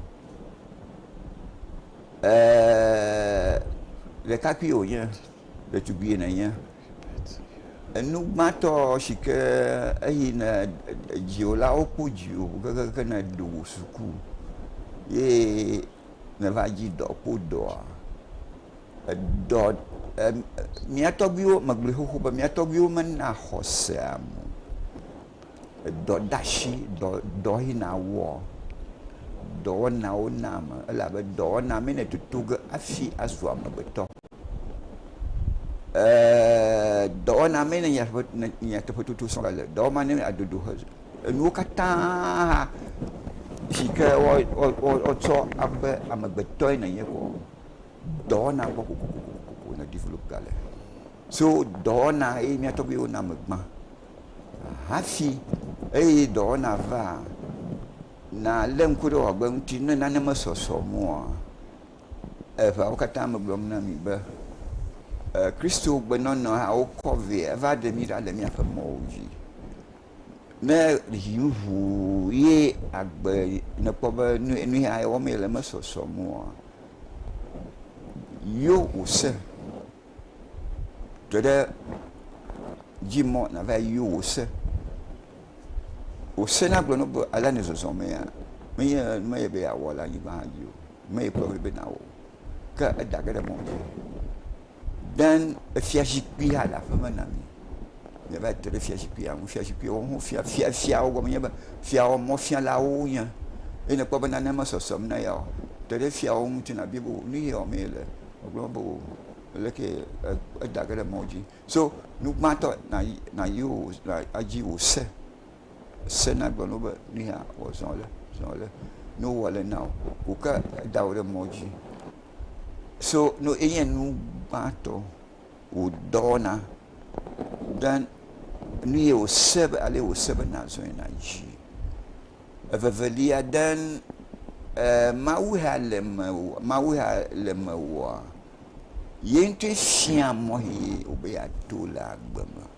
Eeeee ɖekakpui wònye, ɖetugbui ye nenye. Enu gbãtɔ si ke eyi ne dziwò la wokpɔ dziwò kekeake ne ɖo wò suku ye. Neva dzi dɔ kpɔ dɔa, edɔ e mía tɔgbuiwo, megblɔe xoxo be mía tɔgbuiwo mena xɔse am o. Edɔɖeashi dɔ dɔ yi nawɔ dɔwɔnawo na ame elabe dɔwɔna mee nètoto ge hafi azu amegbetɔ. dɔwɔna me ne nyateƒe tutu sɔ le dɔwɔma ne aɖuɖu enuwo katã sike wotsɔ abe amegbetɔ ye nenye ko dɔwɔna gbɔ kokoko le develop ga le so dɔwɔna ye mía tɔgbuiwo na me gbã hafi eye dɔwɔna va na le ŋku ɖe wɔ be ŋti ne nane me sɔsɔ moa Eveawo katã me gblɔm na mi be, Kristo gbenɔnɔ hã wokɔ vɛ eva ɖe mí ɖa le míaƒe mɔwo dzi. Ne zi ŋu ye agbe nèkpɔ be nu ya wɔm ye le mesɔsɔm oa, yo wòse. Te ɖe dzi mɔ nàva yo wòse. Wòse nagblɔ na wò be ale nèzɔzɔ mea, menye nu ma ye be yeawɔ le anyigba dzi o. mele ƒe ʋli be na wò o. Ke eda ge ɖe mɔ dzi. Den efia zikpui hã le aƒe me na mi. Mi va yi te ɖe fia zikpuia ŋu. Fia zikpui wo ho fia, fia, fia wo gɔme nye be fia wo mɔfialawo wo nye. Eye ne kpɔ be nane me sɔsɔm na yeaɔ, te ɖe fia wo ŋuti na bia be wo nu ye wɔm ye le. Egblɔ be wo leke ye eda ge ɖe mɔ dzi. So nugbãtɔ na yi, na yi wo, na dzi wo se. se na gblɔ na wo be nu ya wɔ zɔ le zɔ le ne wowɔ le na wo o ke da wo ɖe mɔ dzi. So no enye nu gbãtɔ wodɔna ɖe nu ye wose be ale wose be nazɔe na dzi. Evevelia ɖe e Mawu ya le eme o Mawu ya le eme oa ye ŋutɔe fia mɔ yi wobe yeato le agbe me.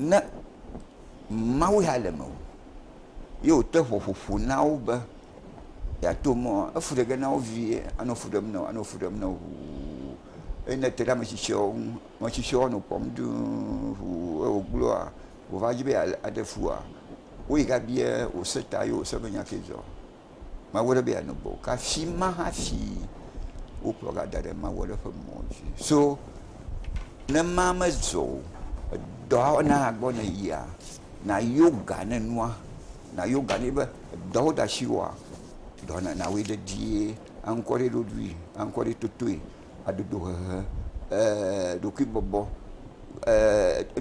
ne Mawu ya le mewò ye wòte ŋu ƒo ƒu na wo be yeato mɔ efu ɖe ge na wo vie anɔ fu ɖem na wo, anɔ fu ɖem na wo ʋuu eye ne ete ɖe ame tsitsiawo ŋu, ame tsitsiawo anɔ kpɔm dũu ʋuu eye wògblɔa, wòva dzi be yeaɖe fua, woyi ɖabia ye wòse ta eye wòse be nya kae dzɔ. Mawu ɖe be yeanɔ gbɔwò. Ke afi ma hafi wokplɔ va da ɖe Mawu aɖe ƒe mɔ dzi. So ne ema medzɔ o, edɔ aɖe na gbɔ nèyia, nayo ga ne nua, nayo ga ne be edɔ wode asiwòa, dɔ na, nawɔe dedie, aŋkɔ ɖe ɖoɖoe, aŋkɔ ɖe totoe. aɖuɖɔhehe, ɖokuibɔbɔ,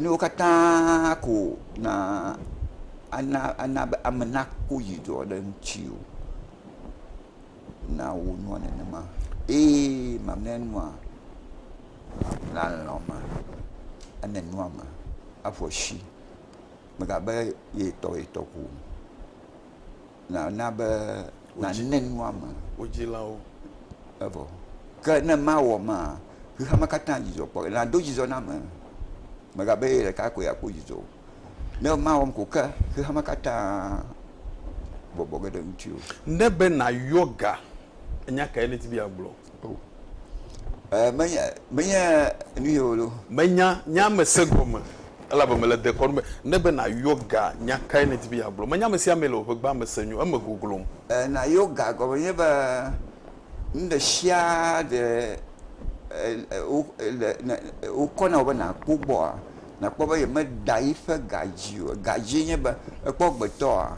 nuwo katã ko nàana, ana be ame nakpɔ dzidzɔ ɖe ŋutiwò. Na wò nua nenema. Eye mamlɛa nua, na alɔ̃ ame. Ene nu ame. Eƒo asi. Mègale be yetɔ, yetɔ ko o. Nàna be nàne nua me. Wò dzilawo. Evɔ. Ke ne mawɔ ma, xexea me katã dzidzɔ kpɔ. Nàdo dzidzɔ na ame. Mègabe ye ɖeka koe akpɔ dzidzɔ o. Ne mawɔm ko ke xexea me katã bɔbɔ ge ɖe ŋutiwò. Ne be nàyɔ ga, nya kae nèdi be yeagblɔ? Menya, nye ame se gɔme, elabe mele dekɔnu be, ne be nàyɔ ga, nya kae nèdi be yeagblɔ? Menya ame sia amee le wò ʋegba me se nyo, eme goglom. Nayɔ ga gɔme nye be, nu ɖe sia ɖe wokɔ na wò be nàkpɔ gbɔa, nàkpɔ be yemeda yiƒe ga dzi o. Ga dzie nye be, ekpɔ agbetɔa,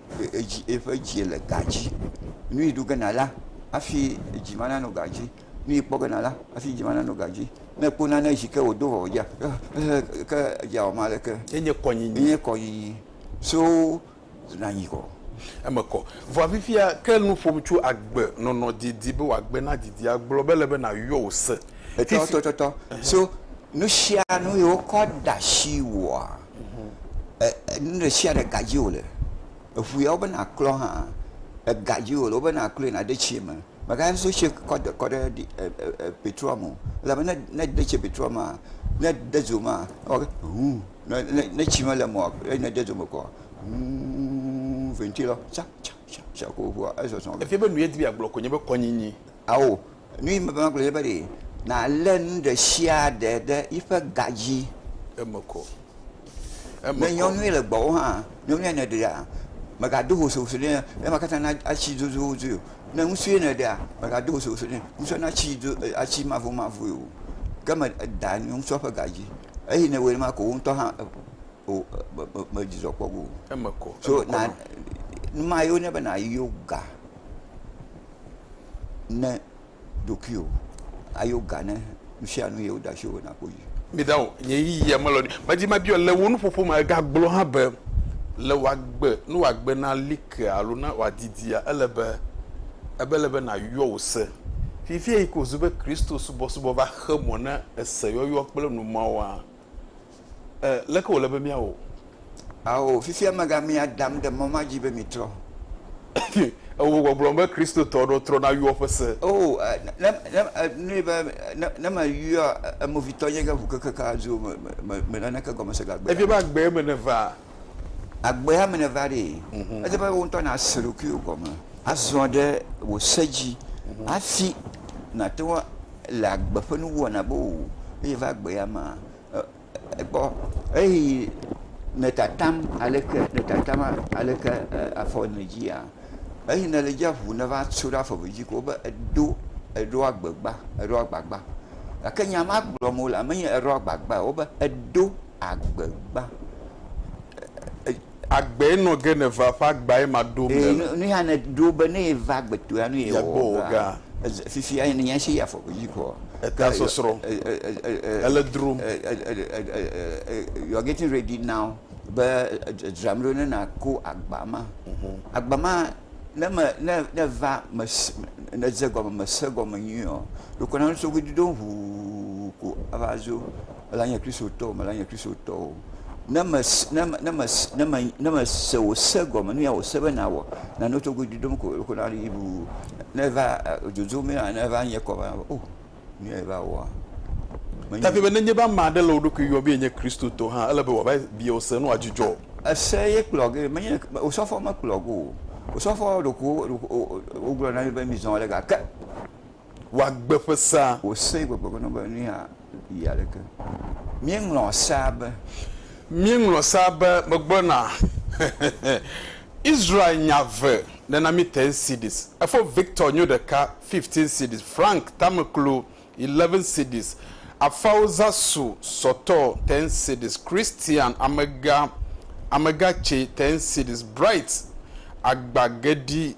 edzi eƒe dzi le ga dzi. Nu yi ɖugena la hafi edzi ma nanɔ ga dzi. Nu yi kpɔgena la hafi edzi ma nanɔ ga dzi. Ne ekpɔ nane dzi ke wòdo vɔ̃ vɔ̃dzia ehe ke edzia wɔma aɖeke. Enye kɔnyinyi. Enye kɔnyinyi so nanyi kɔ. Eme kɔ. Vɔa fifia ke nu ƒom tso agbe nɔnɔ didi be wòagbe na didia gblɔ be ele be nàyɔ wò se. Etɔtɔtɔtɔ so nusianu yi wokɔ ɖe asiwòa Nu ɖe sia ɖe ga dzi wòle. Eŋu ya wobe nàklɔ hã, ega dzi wòle. Wobe nàklɔe nàde tsie me. Mègava so tsie kɔ de kɔ ɖe petrol me o. Elabe ne ne ède tsie petrol mea, ne ède dzo mea, ewɔ be huu. Ne ne ne tsi mele emea, eyi ne ède dzo me kɔ huuuuuuuu ventilo tsap tsap tsap tsap koko koko ezɔzɔ. Efia be nu ye di be yeagblɔ koe nye be kɔnyinyi. Ao, nu yi meva gblɔ nye be ɖe nàlé nu ɖe sia ɖe ɖe eƒe ga dzi. Eme kɔ. Eme ne nyɔnue le gbɔwò hã, nyɔnue nèɖea, mègado hosohoso nɛ o, eya ma katã na atsi dzodzodzoe o. Ne ŋutsue nèɖea, mègado hosohoso nɛ o, ŋutsua natsi dzo, atsi mavumavue o. Ke me, da nu ɖe ŋutsua ƒe ga dzi. Eyi nèwɔe nenema ko wò ŋutɔ hã o, mèdzidzɔ kpɔ go o. Eme kɔ. So, na, nu ma ye wonye be nàyɔ ga. ne ɖokuiwò ayo ga ne nusianu ye woda siwò nakpɔ dzi. Mi dawò nye yiyia me lɔni. Medi mabiɔ le wò nuƒoƒo me egagblɔ hã be le wò agbe ne wò agbe na like alo ne wò adidia ele be ebe le be na yɔ wò se. Fifia yike wò zu be Kristo subɔsubɔ va xe mɔ ne ese yɔyɔ kple nu mawoa. E, leke wòle be míawɔ? Ao, fifia mega mia dam ɖe mɔ ma dzi be mitrɔ. Ewo gbɔgblɔm be Kristotɔ aɖewo trɔna yɔa ƒe se. O, e, ne, ne, e, nui be ne, ne meyɔa emovitɔ nye ge ŋu kekekaa zuwo me, me, me, me naneke gɔmesegagbe. Efia be agbe me nèvaa. Agbe ame ene va ɖee. Edze be wò ŋutɔ nàse ɖokuiwò gɔme azɔ ɖe wò se dzi hafi nàte ŋu le agbe ƒe nuwɔna be o eye va agbe ya mea, ekpɔ eyi le tatam aleke, le tatam aleke afɔ le dzia, eyi ne le edzi aŋu ne va tso ɖe afɔ ve dzi ko be eɖo, eɖo agbegba, eɖo agbagba. Gake nya ma gblɔm wole menye eɖo agbagba o, wobe eɖo. agbe gbã. E, agbee nɔ ge ne va ƒe agbae ma ɖo me. Ee, nu ya ne ɖo be ne va agbe to ya nu ye wɔ ga. Fifi ya ne nyasi ya fɔ yi kɔ. Eta sɔsrɔ. Ele dro. You are getting ready now be dzram ɖo ne na ko agba ma. Mhm. Agba ma ne me ne ne va me ne dze gɔme me se gɔme nyuiɔ, ɖokɔ na nu so go dido ʋuu ko ava zo Mele nye Kristotɔ o, mele nye Kristotɔ o. Ne me, ne me, ne me, ne me, ne me se wò se gɔme, nu ya wò se be nawɔ, na ne wotso godi ɖom ko, ko na ɖi ʋuu, ne eva dzodzom be ne eva nye kɔ va, oh, nu ya eva wɔa. Davi be, Nenye be ame aɖe le wò ɖokui yɔ be yenye Kristotɔ hã, ele be wòava bia wò se ne wòadzudzɔ. Ese ye kplɔ ge, menye osɔfoa mekplɔ ge o. Osɔfoa ɖeko wogblɔ na mi be mizɔ le gake. wòagbe ƒe sea? Wòsee gbɔgbɔgblɔnɔ be, Nu ya yi aleke? Míeŋlɔ sea be. Míeŋlɔ sea be megblɔna Israel nya ve nena mí ten cedis, efo Victor nyo ɖeka, fifteen cedis, franc tameklo, eleven cedis, afawo zasu sɔtɔ, ten cedis, Christian amega, amega tsɛ, ten cedis, Bright agba geɖi,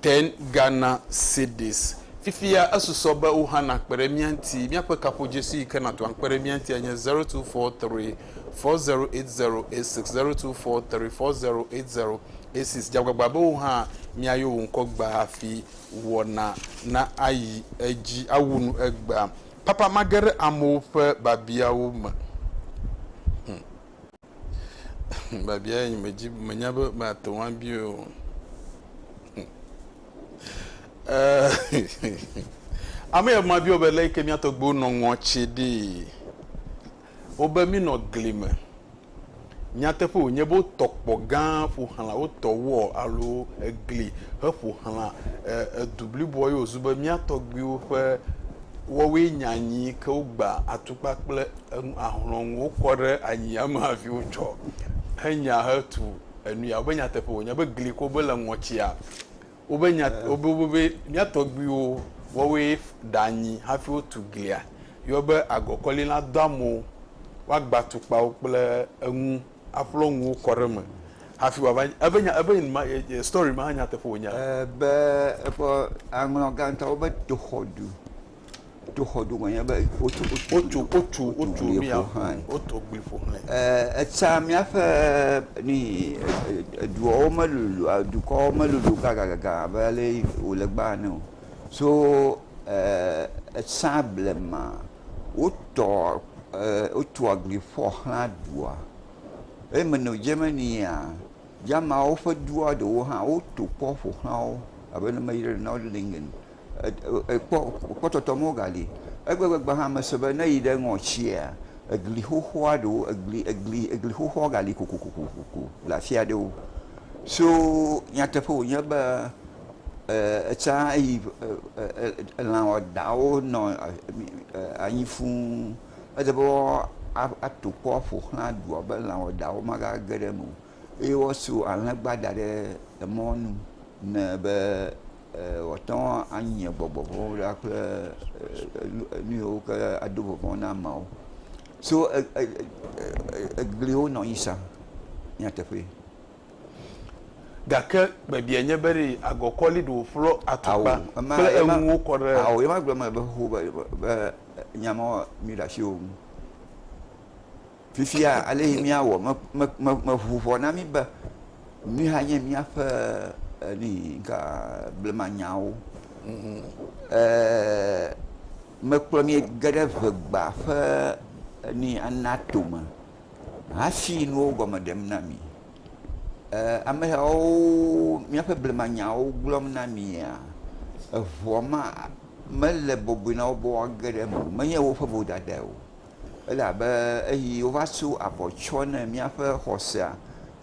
Ten Ghana Cedis. Fifia esusɔ be wohã nakpe ɖe mía ŋuti. Míaƒe kaƒodzesi yi ke nàtu akpe ɖe mía ŋutia nye 0243408086, 0243408086. Dze agbagba be wò hã míayɔ wò ŋkɔ gbea hafi wɔna nayi edzi awu nu egbea. Papa mage ɖe amewo ƒe biabiawo me. Biabia yi medzi menya be mate ŋu abia o. Ame ya mabia be leke mía tɔgbuiwo nɔ ŋɔtsi ɖee. Wobe minɔ gli me. Nyateƒe wònye be wotɔ kpɔ gã ƒoxla, wotɔ wɔ alo egli heƒoxla edu bliboa ye wòzu be mía tɔgbuiwo ƒe woawoe nya anyi yi ke wogbã atukpa kple enu ahlɔ̃nu wokɔ ɖe anyia me hafi wotsɔ henya hetu enu ya. Wobe nyateƒe wònye be gli ko be le ŋɔtsia. Wobe nya wobe wobe mía tɔgbuiwo woawoe ɖa anyi hafi wotu glia. Yewɔ be agɔkɔlila doa mo woagbã tukpawo kple enu. aƒlɔ nuwo kɔ ɖe eme hafi wòava eƒe nya eƒe ma story ma nyateƒe wònye. Ebe eƒe aŋlɔ gãtɔwo be toxɔdu toxɔdu gɔme nye be wotu wotu wotu wotu nu ya wotu gli ƒo xlãe. Etsã míaƒe ni eduawo melulu dukɔwo melulu gãgãgãgã abe ale wòle gbã ene o so etsã blema. Wotua gli ƒo xlã dua eye eme ne wòdze me nɛa, Germanwo ƒe dua ɖewo hã, woto kpɔ ƒo xlã wo abe ne wome yina Nɔrdlingen ene. Kpɔtɔtɔ mewo gali. Egbegbe hã mese be ne èyi ɖe eŋɔ tsia, egli xoxoa ɖewo, egli xoxoa gali kokoko le afi aɖewo. So nyateƒe wònye be. etsã eyi elã wɔdawo nɔ anyi fũ eye be woato kpɔ aƒo xlã dua be lã wɔdawo magage ɖe eme o eye woso aŋegba da ɖe emɔ nu ne be woate ŋu anye gbɔgbɔ vɔ̃ ɖa kple nu yiwo ke ado vɔvɔ̃ na ameawo. So egliwo nɔ anyi sa nyateƒee. Gake biabiae nye be ɖe agɔ kɔli ɖe wòƒlɔ atukpa kple enuwo kɔ ɖe. Ao, ye ma gblɔ me be xoxo be, be nya ma wɔ nyui ɖe asiwò ŋu. Fifia ale yi míawɔ me, me, me, meʋu ʋɔ na mí be nu ya nye míaƒe nui ŋka blemanyawo. E, mekplɔ mí ge ɖe ʋegba ƒe nui ana tome. Hafi nuwo gɔme ɖem na mi. Ee, amehawo míaƒe blemanyawo gblɔm na mia? Eŋua ma mele bɔbɔe na wo be woage ɖe eme o, menye woƒe vodadae o. Ele abe eyi wova so avɔ tsɔ ne míaƒe xɔsea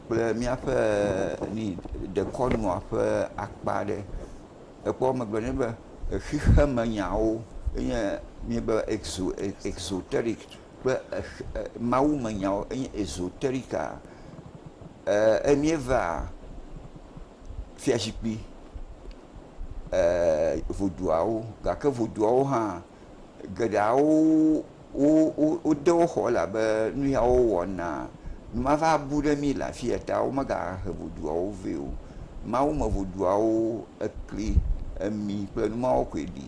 kple míaƒe ni dekɔnua ƒe akpa aɖe. Ekpɔ megblɔ nɛ be xexemenyawo enye míebe exo, exoteric kple exe e mawumenyawo enye ezoterika e emieva fiazikpui e voduawo gake voduawo hã geɖeawo wo wo wode wo xɔ elabe nu ya wowɔna nu mava bu ɖe mi le afi ya ta womegahe voduawo vɛ o. Mawume voduawo ekli emi kple nu mawo koe ɖi.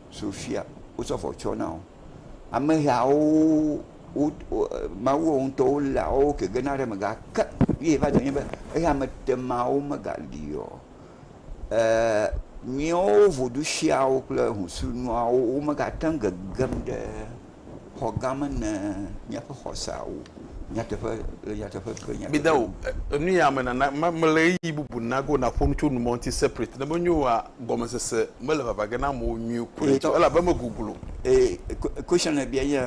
So fia wosɔ vɔ tsɔ na wo. Ameheawo wo wo Mawu ŋutɔwo léa wo ke gena ɖe eme gake ye va dzɔ nɛ be eya mete mawo megali o. E miwo vodusiawo kple husunuawo womegate ŋu gegem ɖe xɔ gã me na míaƒe xɔse o. Nyateƒe, le nyateƒe kple nyateƒe. Mide o, e, nu ya me nana me, mele ɣeyiɣi bubu nina ge wònaƒo nu tso nu ma ŋuti separate. Ne menyo oa, gɔmesese mele vava ge na amewo nyuie o kura Etɔ. o, elabe meguglu. Ee, ko- question le bia nye,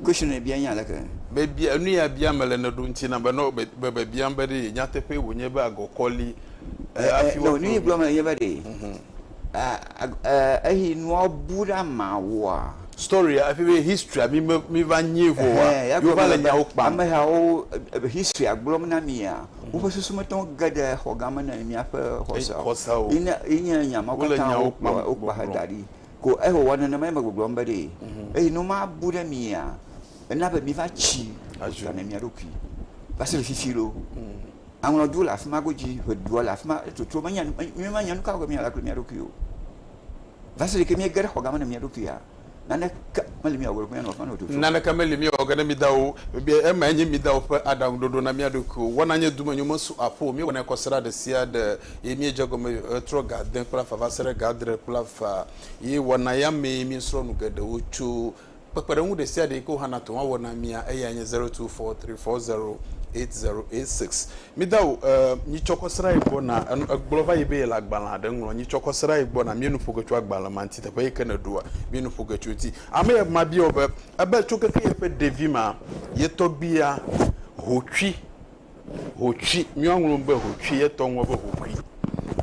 question le bia nye aleke? Mebia, nu ya biam mele ne ɖo ŋuti nam be nɔ be, be bebiam be ɖe nyateƒee wònye be agɔkɔ li e, Ɛ, ɛ, hafi no, nu yi woatrɔ. gblɔm le nye be ɖe eyi nua bu ɖe ama wɔa. Story a efi be history a mi me mi va nyi vo wa. Yewo va le nyawo kpam. Ame hawo history a gblɔm na mi a woƒe susu mete ŋu ge ɖe xɔ gã me ne miaƒe xɔse o. Xɔse o. Ine inye nya ma katã wo kpɔ wo kpɔ he da ɖi. Ko eho wa nenema ye me gbɔgblɔm be ɖee. Eyi nu ma bu ɖe mi a ena be mi va tsi. Adzo. Ame mia ɖokui va se ɖe fifi lo. Aŋlɔ du le afi ma godzi, ʋe dua le afi ma, etsotso menya nu, míemanya nu ka wɔƒe míava kple mía ɖokui o. Va se ɖeke míege ɖe xɔ gã me na mía ɖokuia, naneke meli míawɔ ge ɖe míanɔ afi ma ne etsotso o. Naneke meli míawɔ ge ɖe mída o. Emae nye mída woƒe aɖaŋuɖoɖo na mía ɖokuiwo. Wɔna nye dumenyo mesu aƒe o. Míewɔnɛ kɔsiɖa ɖe sia ɖe eye míedze egɔme ɣetrɔ ga ade kple afã va se ɖe ga adre kple afã. Ye wɔna ya mee míesrɔ̃ nu geɖewo tso Kpekpeɖeŋu ɖesiaɖe yike Ohana to awɔ na mia eyae nye zero two four three four zero eight zero eight six. Mida o e nyi tsɔ kɔ srae gbɔ na enu egblɔ va yi be yele agbalẽ aɖe ŋlɔ nyi tsɔ kɔ srae gbɔ na mia nu ƒoge tso agbalẽ ma ŋti teƒe yike ne ɖoa mia nu ƒoge tso ŋti. Ameye ma bia wo be ebe tso keke yeƒe ɖevi ma ye tɔgbia hotwi hotwi mia ŋlɔ nu be hotwi ye tɔ ŋlɔ be hokwi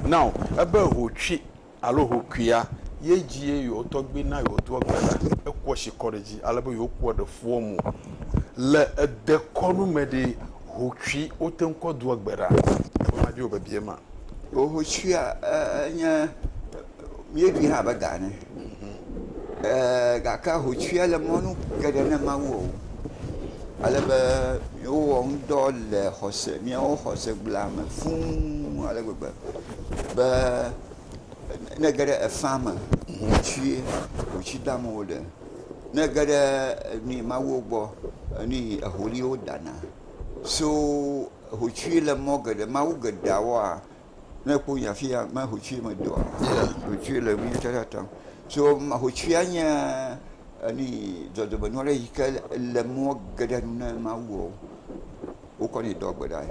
now ebe hotwi alo ho kuia ye dzie yewo tɔgbi na yewo doa gbe la, ekua shi kɔ ɖe dzi ale be yewo kpɔa ɖe fua mo. Le edekɔnu me ɖe, ho kui wo te ŋu kɔ doa gbe ɖa. Ebe ma ɖi wo bebie ma? Ho kuia enye, mía ɖui hã be ga ene. Eeee gake ahotia le mɔnu geɖe na Mawu o ale be wowɔ ŋdɔ le xɔse míawo xɔse gbla me fũ ale gbegbe be ne ege ɖe efea me hotsie hotsi dam wole. Ne ege ɖe enu yi Mawu gbɔ enu yi eholi wodana so hotsie le mɔ geɖe. Mawu geɖeawoa Ne ekpɔ nya fi ya me hotsui me doa. Hotsui le mi tata ta. So hotsuia nye eni dzɔdzɔme nua ɖe yi ke le mɔ geɖe nu ne Mawu o. Wokɔ ne dɔ gbe ɖae.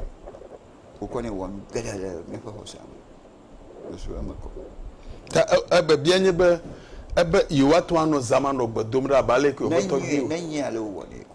Wokɔ ne wɔ nu geɖe le míaƒe xɔse me. Esu eme kɔ. Ta egbe bia nye be ebe yewoa to anɔ zã ma nɔ gbe dom ɖa abe ale ke yewo ƒe tɔgbuiwo. Ne nye ale wowɔ ne ko.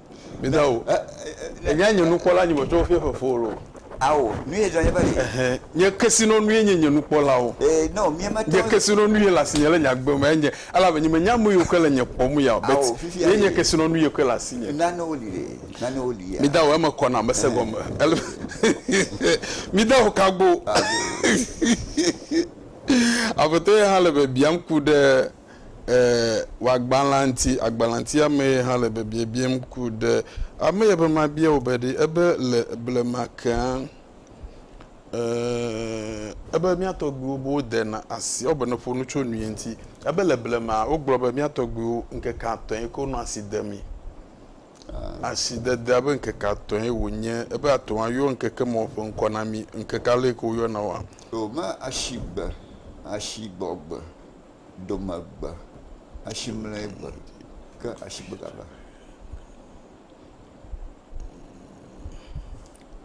Meda o, e, nye nye nukpɔla nye metsɔ woƒe fefo lo. Ao, nue dzɔ nye bali. Ehe, nye kesinɔnue nye nye nukpɔlawo. Ee, no, mie mete. Nye kesinɔnue le asinye le nye agbe me enye, elabe nye menya ame yiwo ke le nye kpɔm ya o, bet, ye nye kesinɔnue yiwo ke le asinye. Nanewo li ɖe, nanewo li ya. Meda o, eme kɔ nam, mese gɔme. Ele, mida o kagbo. Aƒetɔ ye hã le bibiam ku ɖe. E, wòagbalanti, agbalanti amee hã le bebiebiem ku ɖe amee be mabia wò be ɖe ebe le blema kea, e, ebe mía tɔgbuiwo be wodena asi, ewɔ abe nèƒo nu tso nui ŋuti, ebe le blemaa, wogblɔ be mía tɔgbuiwo ŋkeke atɔ̃e ke wonɔ asi demee. Asidedea be ŋkeke atɔ̃e wònye, ebe àte ŋu ayɔ ŋkeke mawo ƒe ŋkɔ na mí, ŋkeke alea ke woyɔna woa? O, me, asigbe, asigbɔgbe, domegbe, ashimlegbe ke ashigbe gava.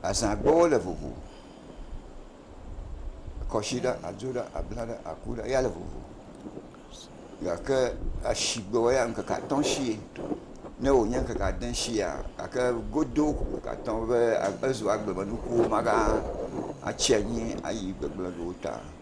Azãgbewo le vovo. Kɔshi ɖe, abladzo ɖe, aku ɖe, abla ɖe ya le vovo gake ashigbewo ya ŋkeke atɔ̃ sie. Ne wonye ŋkeke ade sia gake godo ŋkeke atɔ̃ be ezu agblemenuku maga atsi anyi ayi gbegble le wo ta o.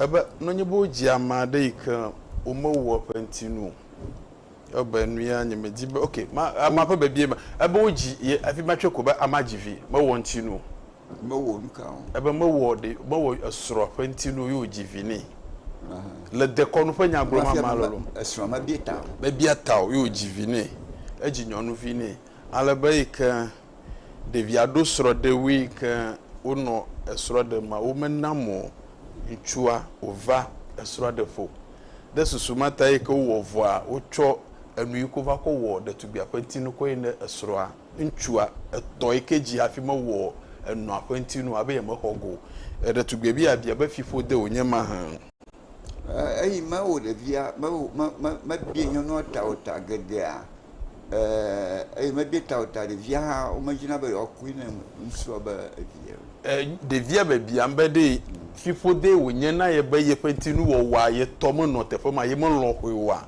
Ebe ne wonye be wodzi ame aɖe yi ke womewu eƒe ŋuti nu o. Ebe nuyea nye medi be, ok, ma, amea ƒe bebie me. Ebe wodzi ye hafi ma tsɔe ko be amea dzi vi. Mewɔ ŋuti nu o. Mewɔ nuka o? Ebe mewɔ ɖe, mewɔ esrɔ̃a ƒe ŋuti nu o ye wodzi vi nɛ. Le dekɔnu ƒe nya gblɔm amea lolo. Esrɔ̃a mebia ta o. Mebia ta o ye wodzi vi nɛ. Edzi nyɔnuvi nɛ. Ale be eyi ke. Ɖevia ɖo srɔ̃ɖewoe ke wonɔ esrɔ̃ ɖem ma, womena mɔ ŋutsua wòva esrɔ̃a ɖeƒe o. Ɖe susu ma tae ke wowɔ vɔa wotsɔ enu yi ke wova kɔ wɔ ɖetugbia ƒe ŋutinukɔe ne esrɔ̃a. Ŋutsua etɔ yi ke dzi hafi mewɔ enɔa ƒe ŋutinu abe yemexɔ go o. Ɖetugbia bi abia be, Fiƒode wònye mahã? Eyi mewò ɖevia, mewò, me, me, mebie nyɔnua ta o ta geɖea, ɛɛ, eyi mebie ta o ta ɖevia hã o, womedzina be yewoakui ne ŋutsua be eviɛ o. Ɛɛ, ɖevia be biam be ɖe fiƒodee wònye na ye be yeƒe ŋutinuwɔwɔa ye tɔ menɔ teƒe ma, yemelɔ̃xoe oa?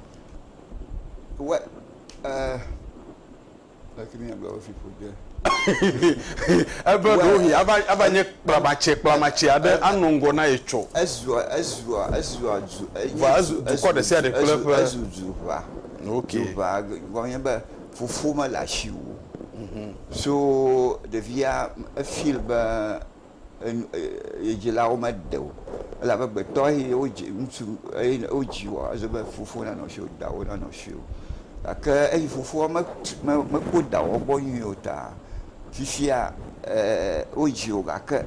Wɛ, ɛɛ. Ebe ɖewohĩ ava, ava nye kplamatsɛ, kplamatsɛ aɖe anɔ ŋgɔ na ye tsɔ. Ezu, ezu, ezu du, Vɔa ezu, dukɔ ɖe sia ɖe kple eƒe. Ezu duʋa. Ok. Duʋa gɔme nye be, fofo mele asiwò o. So ɖevia e feel be. enu e ye dzilawo mede o elabe gbetɔ eye wodzi ŋutsu eye wodzi wo eze be fofoa nanɔ sue dawò nanɔ sue o. Gake eyi fofoa me me mekpɔ dawò gbɔ nyuie o ta fifia e wodzi wò gake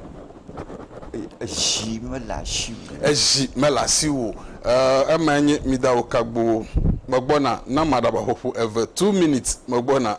ezi mele asiwò o. Ezi mele asiwò o. E emae nye mi dawò ka gbowo. Megbɔna, na maɖaba ƒoƒo eve, two minutes, megbɔna.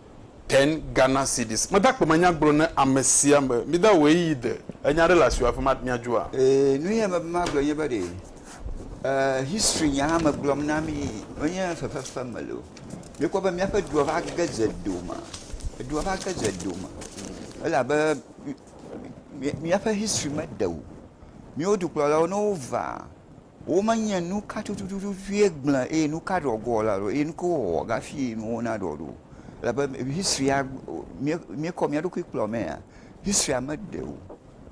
Ten Ghana cedis. Meda kpema nya gblɔ ne ame sia ame. Mida wò ɣeyiɣi de. Enya aɖe le asiwò hafi mia dzua? Ee, nu ye mebe magblɔ nye be ɖe history nya hã megblɔm na mi menye fefefem mele o. Mikpɔ be míaƒe dua va ge dze doma. Edua va ge dze doma elabe míaƒe history meɖe o. Míwo dukplɔlawo ne wova. Womenye nu ka tututu vie gblẽ eye nu ka ɖɔ gɔ la ɖo eye nu kewo wɔwɔ gafi nuwo na ɖɔ ɖo. Le be history a mí kɔ mía ɖokui kplɔ mea, history a me ɖe o.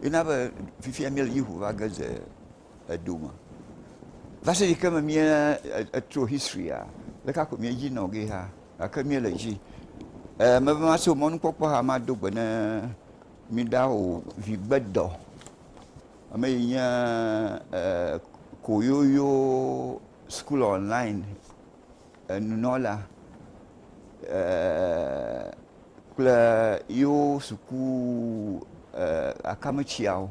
Ye na be fifia mí le yi ŋu va ge ze edo me. Va se ɖeke me mía tro history a, leke ko mía dzi nɔ ge xa gake mí le dzi. E me be ma so mɔnukpɔkpɔ xa ma do gbe ne mí ɖa o vi gbe dɔ. Ame yi nye Koyoyo School Online nunɔla kple yewo suku akametsiawo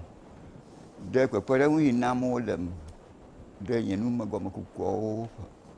ɖe kpekpeɖeŋu yi nam wole ɖe nye numegɔmekukuawo ŋu.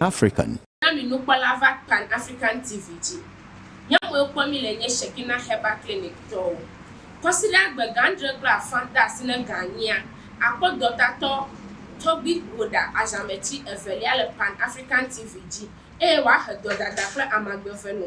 African. Na mi nukpɔla va Pan African TV dzi. Nye mue kpɔ mi le nye Shekinah Herbal Clinic tɔwo. Kɔsiɖa gbe gã adre kple afã de asi ne ga anyia, akpɔ dɔtatɔ tɔgbi ƒoɖa azãmetsi evelia le Pan African TV dzi eye wòahe dɔdada kple amagbe vɛ no.